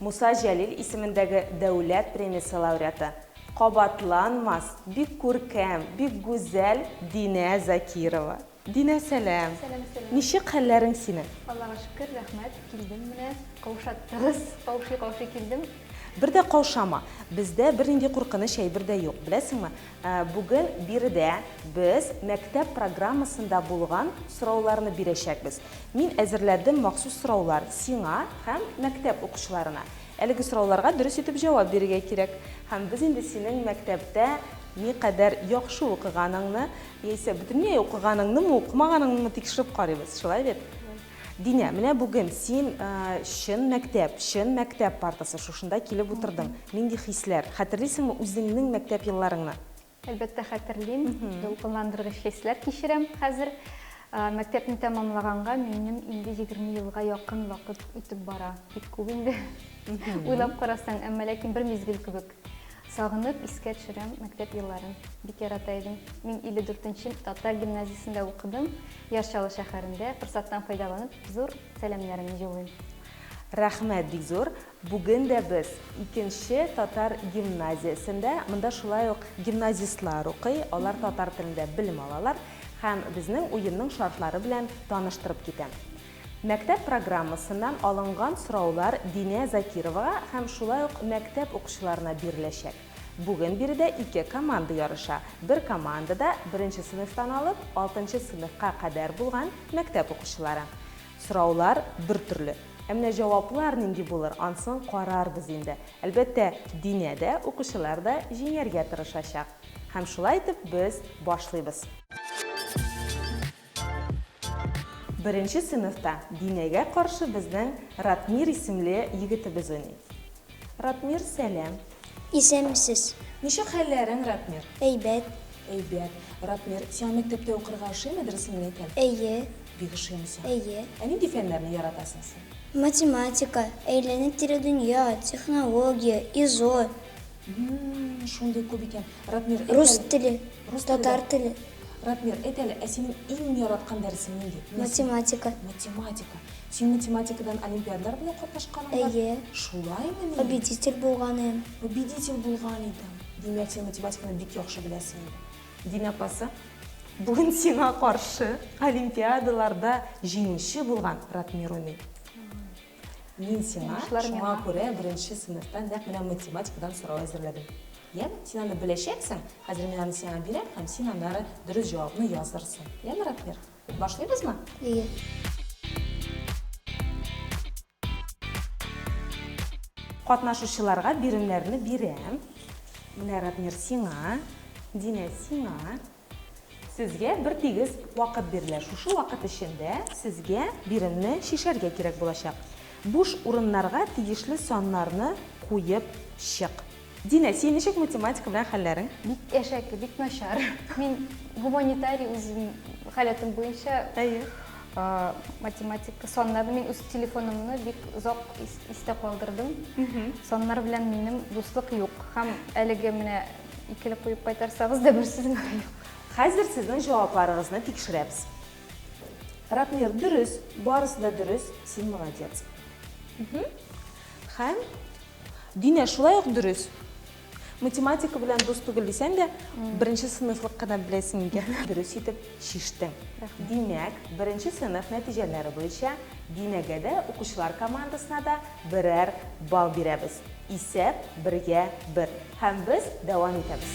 Муса Җәлил исемендәге дәүләт премиясе лауреаты, кабатланмас, бик күркәм, бик гүзәл Динә Закирова. Динә, сәлам! Сәлам, сәлам! Ничек хәлләрең синең? Аллага шөкер, рәхмәт, килдем менә, каушаттыгыз, каушый-каушый килдем. Бер дә каушама, бездә бернинди куркыныч әйбер дә юк, беләсеңме? Бүген биредә без мәктәп программасында булган сорауларны бирәчәкбез. Мин әзерләдем махсус сораулар сиңа һәм мәктәп укучыларына. Әлеге сорауларга дөрес итеп җавап бирергә кирәк. Һәм без инде синең мәктәптә никадәр яхшы укыганыңны, яисә бөтенләй укыганыңнымы, укымаганыңнымы тикшереп карыйбыз. Шулай бит? Динә, менә бүген син чын мәктәп, чын мәктәп партасы, шушында килеп утырдың. Нинди хисләр? Хәтерлисеңме үзеңнең мәктәп елларыңны? Әлбәттә, хәтерлим. Дулкынландыргыч хисләр кичерәм хәзер. Мәктәпне тәмамлаганга минем инде 20 елга якын вакыт үтеп бара. Бик күп инде. Уйлап карасаң, әмма ләкин бер мизгел кебек. Сагынып искә төшерәм мәктәп елларын. Бик ярата идем. Мин 54 нче татар гимназиясендә укыдым. Яр Чаллы шәһәрендә. Форсаттан файдаланып, зур сәламнәремне җулыйм. Рәхмәт бик зур! Бүген дә без, икенче татар гимназиясендә. Монда шулай ук гимназистлар укый, алар татар телендә белем алалар. Һәм безнең уенның шартлары белән таныштырып китәм. Мәктәп программасыннан алынган сораулар Динә Закировага һәм шулай ук мәктәп укучыларына биреләчәк. Бүген биредә ике команда ярыша. Бер командада, беренче сыйныфтан алып, алтынчы сыйныфка кадәр булган мәктәп укучылары. Сораулар бертөрле. Ә менә җаваплар нинди булыр, ансын карарбыз инде. Әлбәттә, Динә дә, укучылар да җиңәргә тырышачак. Һәм шулай итеп без башлыйбыз. Беренче сыйныфта Динәгә каршы безнең Ратмир исемле егетебез уйный. Ратмир, сәлам! Исәнмесез! Ничек хәлләрең, Ратмир? Әйбәт. Әйбәт. Ратмир, сиңа мәктәптә укырга ошыймы, дөресен генә әйтәм? Әйе. Бик ошыймы сиңа? Әйе. Ә нинди фәннәрне яратасың син? Математика, әйләнеп-тирә дөнья, технология, изо. Шундый күп икән. Ратмир, әйт әле. Рус теле. Рус теле. Татар теле. Ратмир, әйт әле, ә синең иң яраткан дәресең нинди? Математика. Математика. Син математикадан олимпиадалар белән катнашканың бар? Әйе. Шулаймыни? Победитель булганым. Победитель булган идең. Димәк, син математиканы бик яхшы беләсең инде. Дин апасы, бүген сиңа каршы олимпиадаларда җиңүче булган Ратмир уйный. Мин сиңа шуңа күрә беренче сыйныфтан нәкъ менә математикадан сорау әзерләдем. Яме? Син аны беләчәксең, хәзер мин аны сиңа бирәм һәм син аннары дөрес җавапны язырсың. Яме, Ратмир? Башлыйбызмы? Әйе. Катнашучыларга биремнәрне бирәм. Менә, Ратмир, сиңа, Динә, сиңа. Сезгә бер тигез вакыт бирелә. Шушы вакыт эчендә сезгә биремне чишәргә кирәк булачак. Буш урыннарга тиешле саннарны куеп чык. Динә, син ничек математика белән хәлләрең? Бик әшәке, бик начар. Мин гуманитарий үзем халәтем буенча. Әйе. Математика, саннарны мин үз телефонымны бик озак истә калдырдым. Саннар белән минем дуслык юк. Һәм әлеге менә Икеле куеп кайтарсагыз да бер сүз генә юк. Хәзер сезнең җавапларыгызны тикшерәбез. Ратмир, дөрес, барысы да дөрес, син молодец. Һәм Динә шулай ук дөрес. Математика белән дус түгел дисәң дә, беренче сыйныфлык кына беләсең икән. Дөрес итеп Чиштем. Димәк, беренче сыйныф нәтиҗәләре буенча Динәгәдә укучылар командасына да берәр балл бирәбез. Исәп бергә бер. Һәм без дәвам итәбез.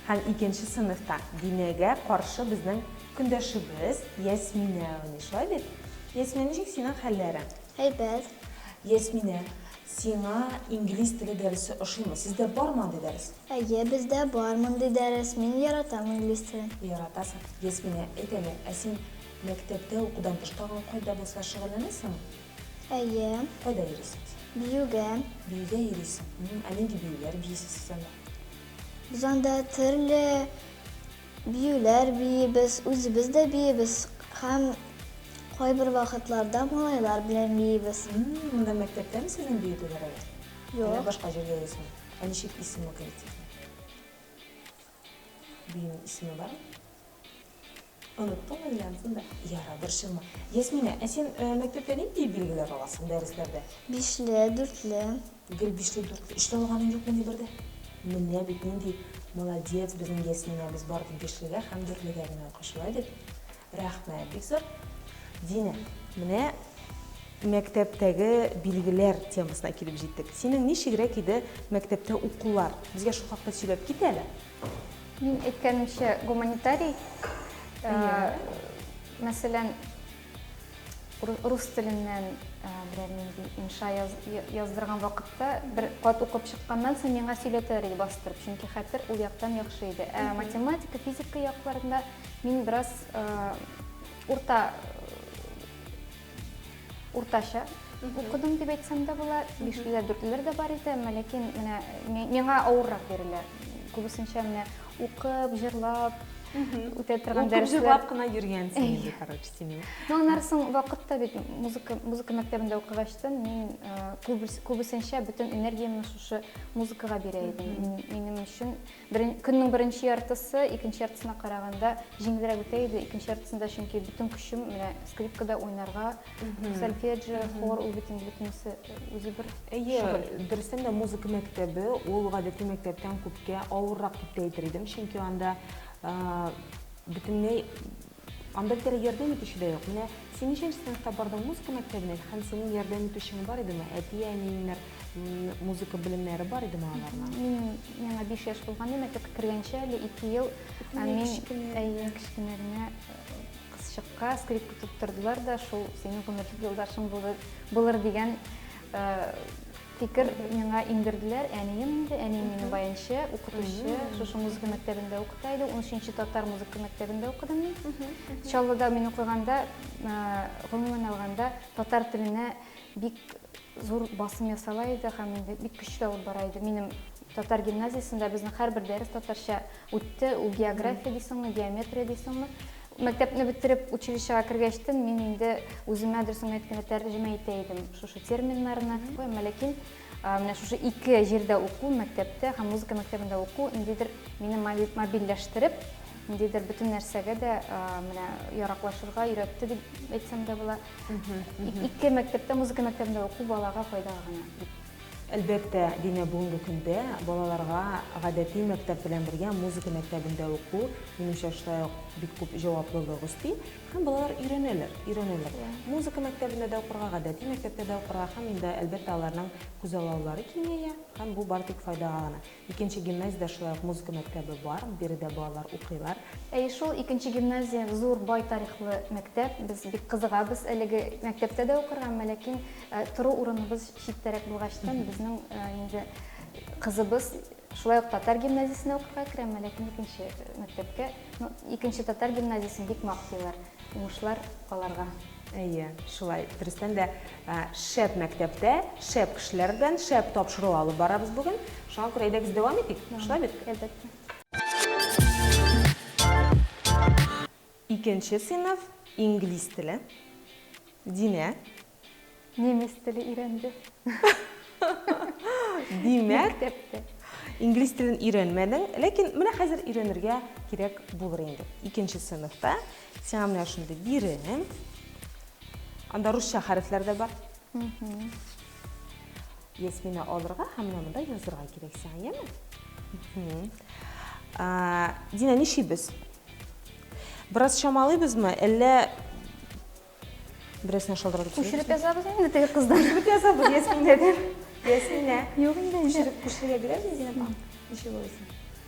Һәм икенче сыйныфта Динәгә каршы безнең Көндәшебез Ясминә уйный, шулай бит? Ясминә, ничек синең хәлләрең? Әйбәт. Ясминә, сиңа инглиз теле дәресе ошыймы? Сездә бармы андый дәрес? Әйе, бездә бар мондый дәрес. Мин яратам инглиз телен. Яратасың. Ясминә, әйт әле, ә син мәктәптә укудан тыш тагын кайда булса шөгыльләнәсеңме? Әйе. Кайда йөрисең син? Биюгә. Биюгә йөрисең. Ә нинди биюләр биисез сез анда? Без анда төрле. Биюләр биибез, үзебез дә биибез һәм кайбер вакытларда малайлар белән биибез. Монда мәктәптәме сезнең бию түгәрәге? Юк. Әллә башка җирдә яисеме? Ә ничек исеме ул коллективның? Биюнең исеме бармы? Оныттыңмы әллә ансың да? Ярар, борчылма. Ясминә, ә син мәктәптә нинди билгеләр аласың дәресләрдә? Бишле, дүртле. Гел биштән дүрт өч тә алганың юкмыни бер дә? Менә бит нинди молодец безнең Ясминәбез бар дип бишлегә һәм дүртлегә генә укый шулай бит? Рәхмәт бик зур. Динә, менә мәктәптәге билгеләр темасына килеп җиттек. Синең ничегрәк иде мәктәптә укулар? Безгә шул хакта сөйләп кит әле. Мин әйткәнемчә гуманитарий. Мәсәлән, Рус теленнән берәр нинди инша яздырган вакытта, бер кат укып чыкканнан соң миңа сөйләтәләр иде бастырып, чөнки хәтер ул яктан яхшы иде. Ә математика, физика якларында мин бераз урта уртача укыдым дип әйтсәм дә була. Бишлеләр, дүртлеләр дә бар иде, ләкин менә миңа авыррак бирелә. Күбесенчә менә Укып, җырлап, үтә торган Укып, дәресләр. җырлап кына йөргәнсең инде, короче, синең. Ну, аннары соң вакытта бит музыка, музыка мәктәбендә укыгачтын, мин күбес, күбесенчә бөтен энергиямне шушы музыкага бирә идем. Мин, минем өчен берен, көннең беренче яртысы икенче яртысына караганда җиңелрәк үтә иде. Икенче яртысында чөнки бөтен көчем менә скрипкада уйнарга, сольфеджио хор ул бит инде бөтенесе үзе бер әйе дөрестән дә музыка мәктәбе ул гадәти мәктәптән күпкә авыррак дип тә әйтер идем чөнки анда бөтенләй анда бит әле ярдәм итүче дә юк менә син ничәнче сыйныфта бардың музыка мәктәбенә һәм синең ярдәм итүчең бар идеме әти әниеңнәр музыка белемнәре бар идеме аларның мин миңа биш яшь булганда мәктәпкә кергәнче әле ике ел мин кечкенә генә Кызчыкка скрипка тоттырдылар да, шул синең гомерлек юлдашың булыр, булыр дигән э, фикер миңа иңдерделәр. Әнием инде, әнием минем баянчы, укытучы, шушы музыка мәктәбендә укыта иде. 13-нче татар музыка мәктәбендә укыдым мин. Чаллыда мин укыганда, э, гомумән алганда, татар теленә бик зур басым ясала иде һәм инде бик көчле алып бара иде. Минем татар гимназиясендә безнең һәрбер дәрес татарча Үтте, ул география дисеңме, геометрия дисеңме. Мәктәпне бетереп, училищега кергәчтен, мин инде үземә дөресен әйткәндә тәрҗемә итә идем шушы терминнарны. Әмма ләкин менә шушы ике җирдә уку, мәктәптә һәм музыка мәктәбендә уку ниндидер мине мобильләштереп, ниндидер бөтен нәрсәгә дә менә яраклашырга өйрәтте дип әйтсәм дә була. Ике мәктәптә, музыка мәктәбендә уку балага файдага гына. Әлбәттә, Динә бүгенге көндә балаларга гадәти мәктәп белән бергә музыка мәктәбендә уку, минемчә, шулай ук бик күп җаваплылык өсти. Һәм балалар өйрәнәләр, өйрәнәләр. Музыка мәктәбендә дә укырга, гадәти мәктәптә дә укырга һәм инде, әлбәттә, аларның күзаллаулары киңәя һәм бу бары тик файдага гына. Икенче гимназиядә шулай ук музыка мәктәбе бар, биредә балалар укыйлар. Әйе шул, икенче гимназия зур, бай тарихлы мәктәп. Без бик кызыгабыз әлеге мәктәптә дә укырга, әмма ләкин тору урыныбыз читтәрәк булгачтан, безнең инде кызыбыз шулай ук татар гимназиясенә укырга керә, әмма ләкин икенче мәктәпкә. Ну, икенче татар гимназиясен бик мактыйлар. Уңышлар аларга! Әйе, шулай. Дөрестән дә, шәп мәктәптә, шәп кешеләр белән шәп тапшыру алып барабыз бүген. Шуңа күрә әйдәгез дәвам итик. Шулай бит? Әлбәттә. Икенче сыйныф, инглиз теле. Динә. Немец теле өйрәнде. Димәк. Мәктәптә. Инглиз телен өйрәнмәдең, ләкин менә хәзер өйрәнергә кирәк булыр инде. Икенче сыйныфта Сиңа менә шундый бирем. Анда русча хәрефләр дә бар. Ясмина алырга һәм менә монда язырга кирәк сиңа, яме? Дина, нишибез? Бераз чамалыйбызмы, әллә берәрсенә шалдыратып куябыз? Күчереп язабыз инде теге кыздан. Күчереп язабыз Ясминәдән. Ясминә. Юк инде. Күчереп, күчерергә бирәбез Дина. Ничек булсын?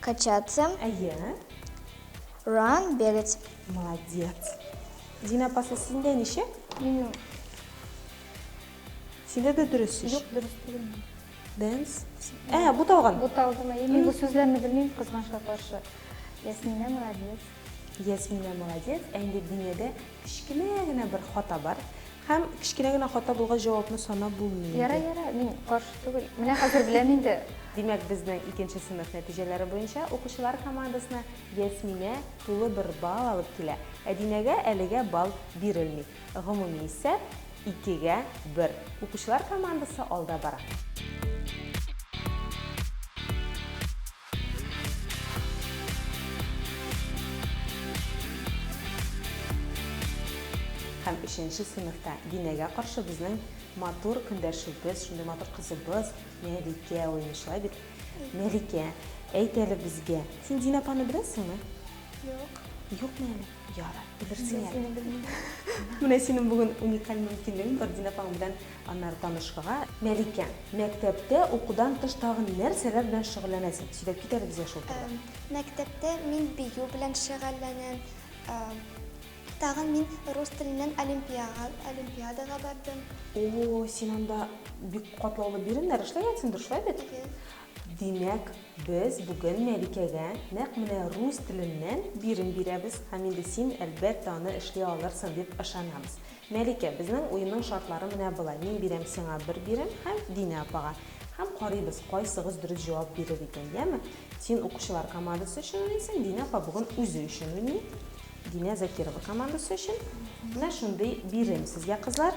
Качаться. Әйе. Run, бегать. Молодец. Дина апасы, синдә ничек? Минем. Синдә дә дөрес иш. Юк, дөрес түгел. Дэнс. Ә, буталган. Буталган. Мин бу сүзләрне белмим, кызганычка каршы. Ясминә молодец. Ясминә молодец, ә инде Динәдә кечкенә генә бер хата бар. Һәм кечкенә генә хата булгач җавапны санап булмый инде. Ярай, ярай, мин каршы түгел. Менә хәзер беләм инде. Димәк, безнең икенче сыйныф нәтиҗәләре буенча укучылар командасына Ясминә тулы бер балл алып килә, ә Динәгә әлегә балл бирелми. Гомуми исәп, икегә бер. Укучылар командасы алда бара. Һәм өченче сыйныфта Динәгә каршы безнең матур көндәшебез, шундый матур кызыбыз Мәликә уйный, шулай бит? Мәликә, әйт әле безгә, син Динә апаны беләсеңме? Юк. Юкмы әле? Ярар, белерсең әле. Сине белмим. Менә синең бүген уникаль мөмкинлегең бар Динә апаң белән аннары танышырга. Мәликә, мәктәптә укудан тыш тагын нәрсәләр белән шөгыльләнәсең? Сөйләп кит әле безгә шул турыда. Мәктәптә мин бию белән шөгыльләнәм. Тагын мин рус теленнән олимпиадага бардым. О, син анда бик катлаулы биремнәр эшләгәнсеңдер, шулай бит? Димәк, без бүген Мәликәгә нәкъ менә рус теленнән бирем бирәбез һәм инде син, әлбәттә, аны эшли алырсың дип ышанабыз. Мәликә, безнең уенның шартлары менә болай, мин бирәм сиңа бер бирем һәм Динә апага. Һәм карыйбыз, кайсыгыз дөрес җавап бирер икән, яме? Син укучылар командасы өчен уйныйсың, Динә апа бүген үзе өчен уйный. Динә Закирова командасы өчен. Менә шундый бирем сезгә, кызлар.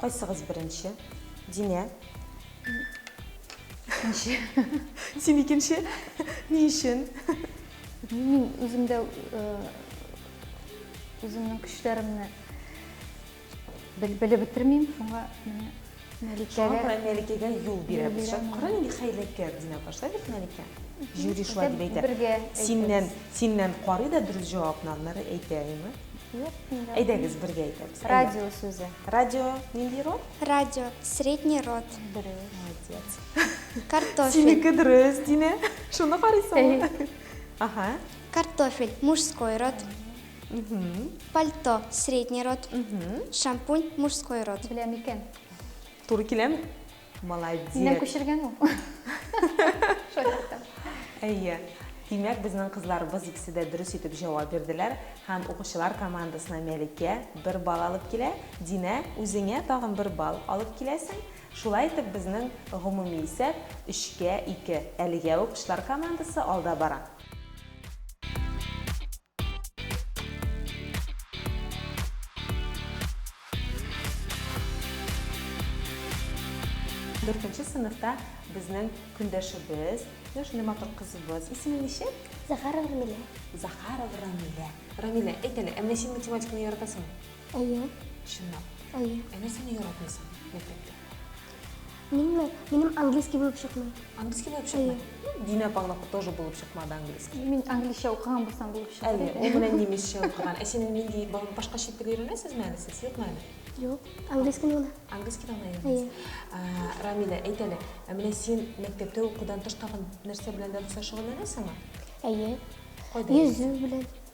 Кайсыгыз беренче? Динә? Икенче. Син икенче? Ни өчен? Мин үземдә э, үземнең көчләремне бел- белеп бетермим, шуңа менә Шуңа Мәликәгә күрә Мәликәгә юл бирәбез. бирәм. Шат- Кара нинди хәйләкәр Динә башта бит Мәликә. Жюри шулай дип әйтә. бергә Синнән, әйтәбез. синнән карый да дөрес җавапны, аннары әйтә, әйеме? Әйдәгез, бергә әйтәбез. Радио сүзе. Радио нинди род? Радио, средний род. Дөрес. Молодец. Картофель. Синеке дөрес, Динә. Шуны карыйсыңмы? Ага. Картофель, мужской род. Пальто, средний род. Шампунь, мужской род. Беләм икән. Туры киләме? Молодец. Минем күчергән ул. Әйе. Димәк, безнең кызларыбыз икесе дә дөрес итеп җавап бирделәр һәм укучылар командасына Мәликә бер бал алып килә, Динә, үзеңә тагын бер бал алып киләсең. Шулай итеп, безнең гомуми исәп, өчкә ике. Әлегә укучылар командасы алда бара. Дүртенче сыныфта безнең көндәшебез, менә шундый матур кызыбыз. Исеме ничек? Захарова Рамилә. Захарова Рамилә. Рамилә, әйт әле, ә менә син математиканы яратасыңмы? Әйе. Чынлап. Әйе. Ә нәрсәне яратмыйсың мәктәптә? Минме? Минем английский булып чыкмый. Английский булып чыкмый? Дина Павловна тоже булып чыкмады английский. Мин английча укыган булсам булып чыкты. Әле, ул менә немецча укыган. Ә син нинди башка чит тел өйрәнәсезме әле сез? Юкмы әле? Юк, английский гына. Английский гына өйрәнәсез. Рамилә, әйт әле, ә менә син мәктәптә укудан тыш тагын нәрсә белән дә шөгыльләнәсеңме? Әйе. Кайда? Йөзү белән.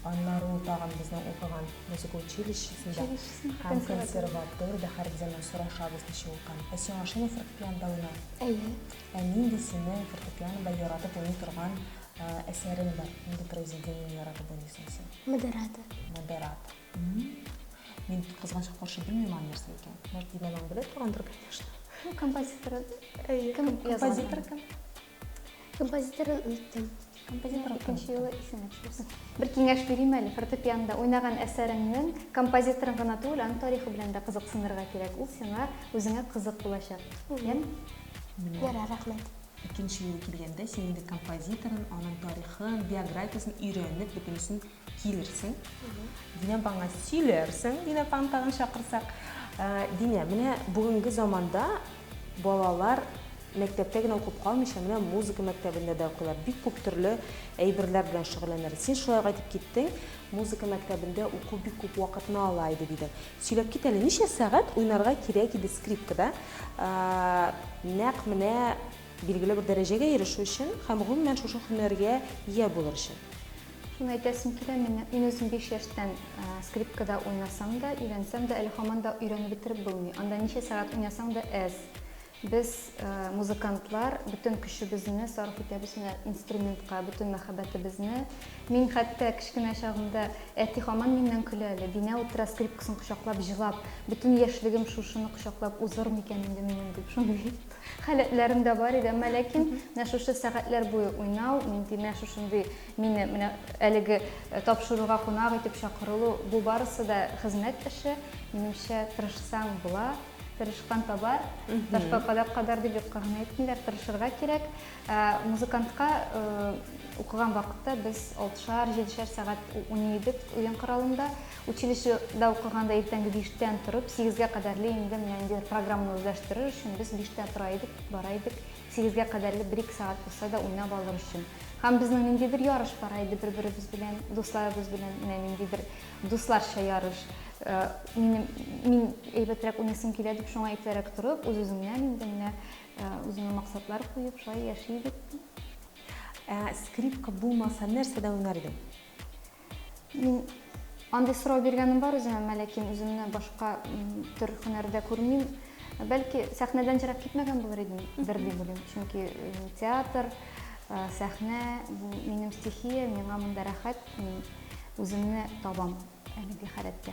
Аннары ул тагын безнең укыган музыка училищесында һәм консерваториядә һәргизә менә сорашабыз ничек укыган. Ә син ашыймы фортепианда уйнау? Әйе. Ә нинди синең фортепианада яратып уйный торган әсәрең бар? Нинди произведениене яратып уйныйсың син? Модерата. Модерата. Мин кызганчка каршы белмим аны нәрсә икән. Может, Динә мамам белә торгандыр, конечно. Композитор. Әйе. Композитор кем? Композиторын оныттым. Композитор икенче юлы исеңә төшерсен. Бер киңәш бирим әле, фортепианда уйнаган әсәреңнең композиторын гына түгел, аның тарихы белән дә кызыксынырга кирәк. Ул сиңа үзеңә кызык булачак. Яме? Ярар, рәхмәт. Икенче юл килгәндә син инде композиторын, аның тарихын, биографиясен өйрәнеп, бөтенесен Килерсең. Динә апа аңа сөйләрсең, Динә апаны тагын чакырсак. Ә, Динә, менә бүгенге заманда балалар мәктәптә генә укып калмыйча, менә музыка мәктәбендә дә укыйлар. Бик күп төрле әйберләр белән шөгыльләнәләр. Син шулай ук әйтеп киттең, музыка мәктәбендә уку бик күп вакытны ала иде дидең. Сөйләп кит әле, ничә сәгать уйнарга кирәк иде скрипкада? Ә, нәкъ менә билгеле бер дәрәҗәгә ирешү өчен һәм гомумән шушы һөнәргә ия булыр өчен. Шуны әйтәсем килә, мин, мин үзем биш яшьтән скрипкада уйнасам да, өйрәнсәм дә, әле һаман да өйрәнеп бетереп булмый. Анда ничә сәгать уйнасаң да әз. Без, музыкантлар, бөтен көчебезне сарыф итәбез менә инструментка, бөтен мәхәббәтебезне. Мин хәтта кечкенә чагымда, әти һаман миннән көлә әле, Динә утыра скрипкасын кочаклап җылап, бөтен яшьлегем шушыны кочаклап узыр микән инде минем, дип, шундый. Халәтләрем дә бар иде, әмма ләкин менә шушы сәгатьләр буе уйнау, нинди менә шушындый мине менә әлеге э, тапшыруга кунак итеп чакырылу, бу барысы да хезмәт эше. Минемчә, тырышсаң була, тырышкан табар. Ташка кадак кадар дип юкка гына әйтмиләр, тырышырга кирәк. Ә, Музыкантка э, укыган вакытта без алтышар, җидешәр сәгать у- уйный идек уен коралында. Училищеда укыганда иртәнге биштән торып, сигезгә кадәрле инде менә ниндидер программаны үзләштерер өчен без биштә тора идек, бара идек, сигезгә кадәрле бер-ике сәгать булса да уйнап алыр өчен. Һәм безнең ниндидер ярыш бара иде бер-беребез белән, дусларыбыз белән, менә ниндидер дусларча ярыш. Минем, мин әйбәтрәк уйныйсым килә дип, шуңа иртәрәк торып, үз-үзеңнән инде менә үзеңә максатлар куеп, шулай яши идек. Ә скрипка булмаса, нәрсәдә уйнар идең? Мин андый сорау биргәнем бар үземә, мә ләкин үземне башка төр һөнәрдә күрмим. Бәлки, сәхнәдән ерак китмәгән булыр идем, бер дип уйлыйм. Чөнки театр, сәхнә, бу минем стихия, миңа монда рәхәт, мин үземне табам әлеге халәттә.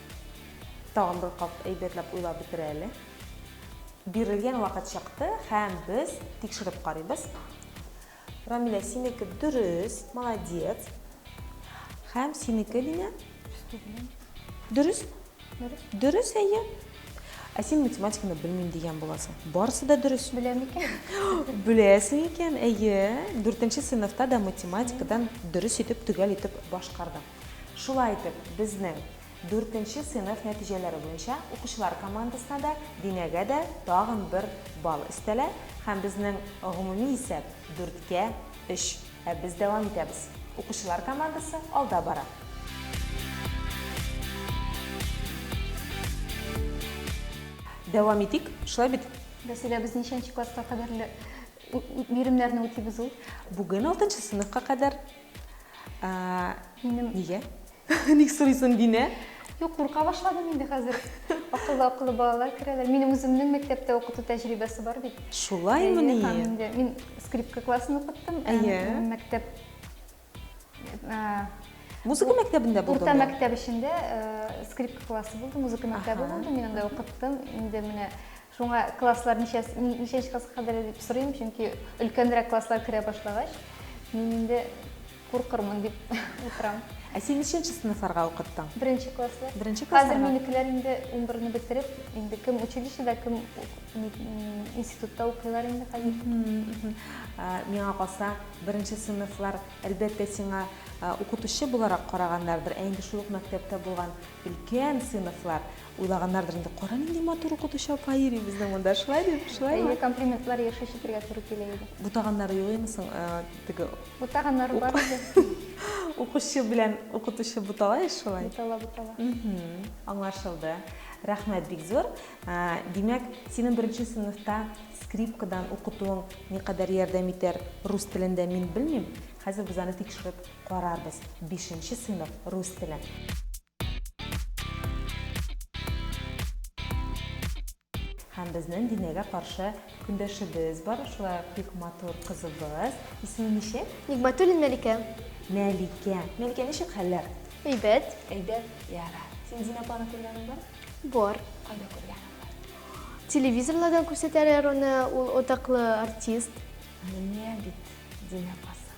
Тагын бер кат әйбәтләп уйлап бетерә әле. Бирелгән вакыт чыкты һәм без тикшереп карыйбыз. Рамилә, синеке дөрес, молодец. Һәм синеке, Линя? Дөрес? Дөрес. Дөрес, әйе. Ә син математиканы белмим дигән буласың. Барысы да дөрес. Беләм икән. Беләсең икән, әйе. Дүртенче сыйныфта да математикадан дөрес итеп, төгәл итеп башкардың. Шулай итеп, безнең дүртенче сыйныф нәтиҗәләре буенча укучылар командасына да, Динәгә дә тагын бер балл өстәлә һәм безнең гомуми исәп, дүрткә, өч. Ә без дәвам итәбез. Укучылар командасы алда бара. Дәвам итик, шулай бит? Вәсилә, без ничәнче класска кадәрле биремнәрне үтибез ул? Бүген алтынчы сыйныфка кадәр Минем... Нигә? Ник сорыйсың, Динә? Юк, курка башладым инде хәзер. Акыллы-акыллы балалар керәләр. Минем үземнең мәктәптә укыту тәҗрибәсе бар бит. Шулаймыни? Һәм инде мин скрипка классын укыттым. Әйе. Мәктәп Музыка мәктәбендә булдым. Урта мәктәп эчендә скрипка классы булды, музыка мәктәбе булды. Мин анда укыттым. Инде менә Шуңа класслар ничәнче класска кадәр дип сорыйм, чөнки өлкәнрәк класслар керә башлагач, мин инде куркырмын дип утырам. Ә син ничәнче сыйныфларга укыттың? Беренче класслар. Беренче классларга. Хәзер минекеләр инде 11-не бетереп, инде кем училищеда, кем институтта укыйлар инде хәзер. Миңа калса, беренче сыйныфлар, әлбәттә, сиңа укытучы буларак караганнардыр, ә инде шул ук мәктәптә булган өлкән сыйныфлар, Уйлаганнардыр инде, кара нинди матур укытучы апа йөри безнең монда, шулай дип, шулаймы? Әйе, комплиментлар еш ишетергә туры килә иде. Бутаганнары юк инде соң, э, теге. Бутаганнар бар иде. Укучы белән укытучы бутала еш шулай. Бутала, бутала. Аңлашылды. Рәхмәт бик зур. Э, димәк, синең беренче сыйныфта скрипкадан укытуың никадәр ярдәм итәр рус телендә мин белмим. Хәзер без аны тикшереп карарбыз. Бишенче сыйныф рус теле. Һәм безнең Динәгә каршы көндәшебез бар, шулай ук бик матур кызыбыз. Исеме ничек? Нигматуллин Мәликә. Мәликә. Мәликә, ничек хәлләр? Әйбәт. Әйбәт, яра. Син Динә апаны күргәнең бар? Бар. Кайда күргәнең бар? Телевизорлардан күрсәтәләр аны, ул атаклы артист. Менә бит Динә апасы.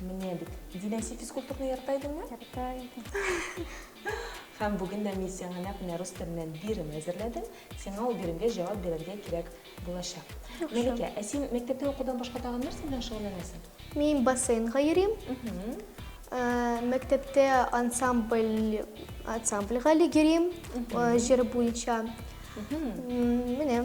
Менә бит. Динә, син физкультурны ярата идеңме? Ярата идем. Һәм бүген дә мин сиңа нәкъ менә рус теленнән бирем әзерләдем. Сиңа ул биремгә җавап бирергә кирәк булачак. Мәликә, ә син мәктәптә укудан башка тагын нәрсә белән шөгыльләнәсең? Мин бассейнга йөрим. Мәктәптә ансамбль, ансамбльгә йөрим, җыр буенча. Менә.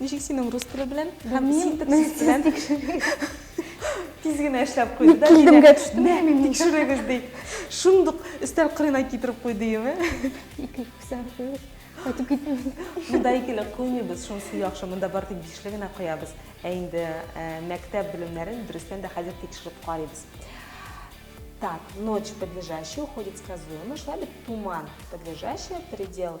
Ничек синең рус теле белән? Һәм мин белән тиз генә эшләп куйды да. Килдемгә төштем. Мә, мин тикшерегез ди. Шундук өстәл кырына китереп куйды име? Ике күсәр куйып. Кайтып китмим. Монда икеле куймыйбыз, шунысы яхшы. Монда бары тик бишле генә куябыз. Ә инде мәктәп белемнәрен дөрестән дә хәзер тикшереп карыйбыз. Так, ночь подлежащая уходит сказуемо. Шулай бит туман подлежащая предел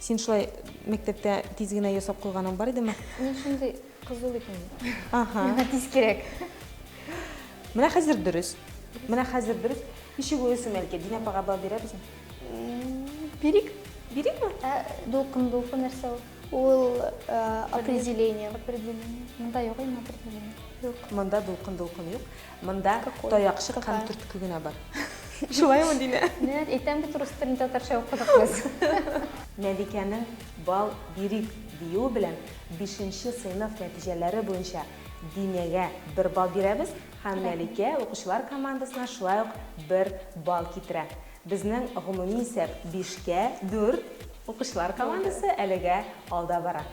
Син шулай мәктәптә тиз генә ясап куйганың бар идеме? Мин шундый кызу бит инде. Ага. Миңа тиз кирәк. Менә хәзер дөрес. Менә хәзер дөрес. Ничек уйлыйсың, Мәликә, Динә апага бал бирәбезме? Бирик. Бирикме? Ә дулкын, дулкын нәрсә ул? Ул э, определение. Определение. Монда юк инде определение. Юк. Монда дулкын-дулкын юк. Монда таякчык һәм төртке генә бар. Шулаймы, Динә? Нәт, әйтәм бит, рус телен татарча укыдык без. Мәликәнең бал бирик диюе белән бишенче сыйныф нәтиҗәләре буенча Динәгә бер бал бирәбез һәм Мәликә укучылар командасына шулай ук бер бал китерә. Безнең гомуми исәп бишкә дүрт, укучылар командасы әлегә алда бара.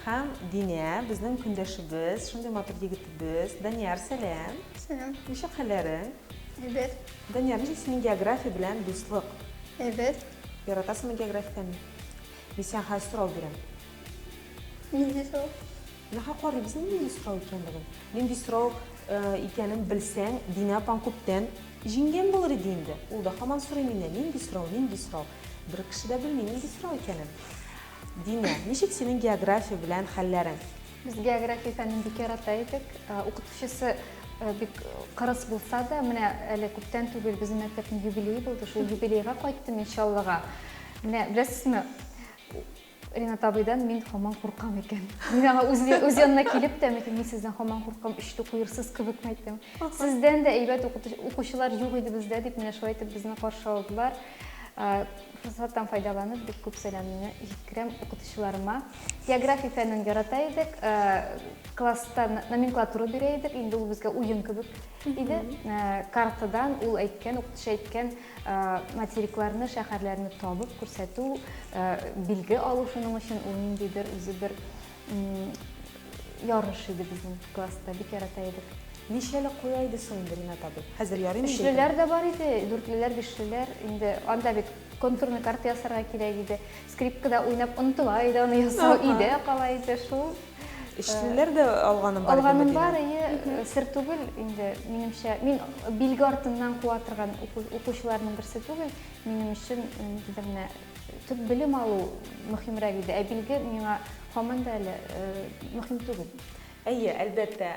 Һәм Динә, безнең көндәшебез, шундый матур егетебез. Данияр, сәлам. Сәлам. Ничек хәлләрең? Әйбәт. Данияр, ничек синең география белән дуслык? Әйбәт. Яратасыңмы географияне? Мин сиңа хәзер сорау бирәм. Нинди сорау? Нахак карыйбыз инде нинди сорау икәнлеген. Нинди сорау икәнен белсәң, Динә апаң күптән җиңгән булыр иде инде. Ул да һаман сорый миннән, нинди сорау, нинди сорау. Бер кеше дә белми нинди сорау икәнен. Динә, ничек синең география белән хәлләрең? Без география фәнен бик ярата идек. Укытучысы бик кырыс булса да, менә әле күптән түгел безнең мәктәпнең юбилее булды. Шул юбилейга кайттым мин Чаллыга. Менә беләсезме, Ринат абыйдан мин хаман куркам икән. Мин аңа үз, үз янына килеп тә, микән, мин сездән хаман куркам, өчтү куерсыз кебек мәйтем. Сездән дә әйбәт укучылар юк иде бездә, дип менә шулай итеп безне каршы алдылар. Форсаттан файдаланып, бик күп сәламне җиткерәм укытучыларыма. География фәнен ярата идек, класста номенклатура бирә идек, инде ул безгә уен кебек иде. Картадан ул әйткән, укытучы әйткән, Материкларны, шәһәрләрне табып күрсәтү, билге алу шуның өчен ул ниндидер үзе бер ярыш иде безнең класста, бик ярата идек. Ничәле куя иде соң инде Ринат абый? Хәзер ярый инде. Өчлеләр дә бар иде, дүртлеләр, бишлеләр. Инде анда бит контурный карта ясарга кирәк иде. Скрипкада уйнап онытыла иде, аны ясау өйдә кала иде, шул. Эшлеләр дә алганым бар. Алганым бар, әйе, сер түгел инде, минемчә. Мин билге артыннан куа торган укучыларның берсе түгел. Минем өчен инде менә төп белем алу мөһимрәк иде. Ә билге миңа һаман да әле мөһим түгел. Әйе, әлбәттә,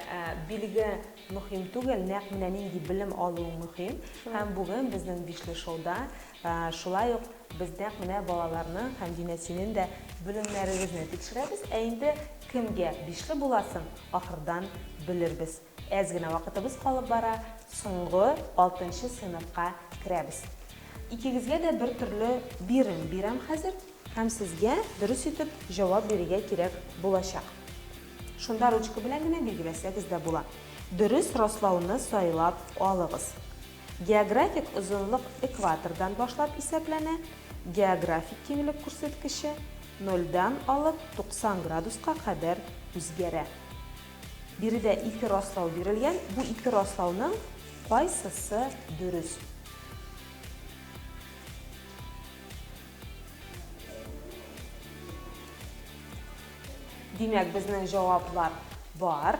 билге мөһим түгел, нәкъ менә нинди белем алу мөһим. Һәм бүген безнең Бишле шоуда Шулай ук без нәкъ менә балаларның һәм Динә синең дә белемнәрегезне тикшерәбез, ә инде кемгә бишле буласын ахырдан белербез. Әз генә вакытыбыз калып бара, соңгы алтынчы сыйныфка керәбез. Икегезгә дә бер төрле бирем бирәм хәзер һәм сезгә дөрес итеп җавап бирергә кирәк булачак. Шунда ручка белән генә билгеләсәгез дә була. Дөрес раслауны сайлап алыгыз. Географик озынлык экватордан башлап исәпләнә, географик киңлек күрсәткече нольдән алып 90 градуска кадәр үзгәрә. Биредә ике раслау бирелгән, бу ике раслауның кайсысы дөрес? Димәк, безнең җаваплар бар.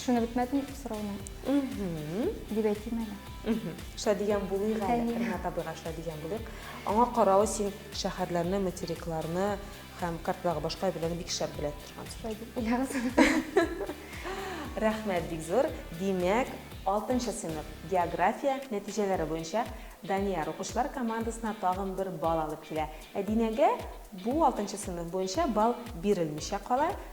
Шуны бетмәдем сорауны. Дип әйтим әле. Шәдигән булыйк әле, Ринат абыйга шәдигән булыйк. Аңа каравы син шәһәрләрне, материкларны һәм картларга башка әйберләрне бик шәп белә торгансың. Рәхмәт бик зур. Димәк, 6 нчы сыйныф география нәтиҗәләре буенча Данияр укучылар командасына тагын бер бал алып килә. Ә Динәгә бу 6 нчы сыйныф буенча бал бирелмичә кала,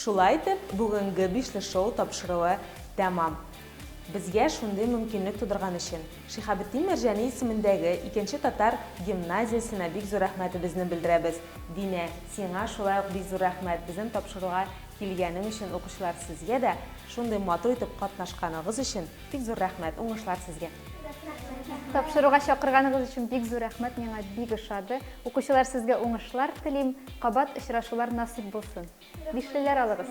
Шулай итеп, бүгенге бишле шоу тапшыруы тәмам. Безгә шундый мөмкинлек тудырган өчен Шихабетдин Мәрҗани исемендәге икенче татар гимназиясенә бик зур рәхмәтебезне белдерәбез. Динә, сиңа шулай ук бик зур рәхмәт, безнең тапшыруга килгәнең өчен, укучылар, сезгә дә шундый матур итеп катнашканыгыз өчен Бик зур рәхмәт, уңышлар сезгә! Тапшыруга чакырганыгыз өчен бик зур рәхмәт, миңа бик ошады. Укучылар, сезгә уңышлар телим, кабат очрашулар насыйп булсын. Бишлеләр алыгыз!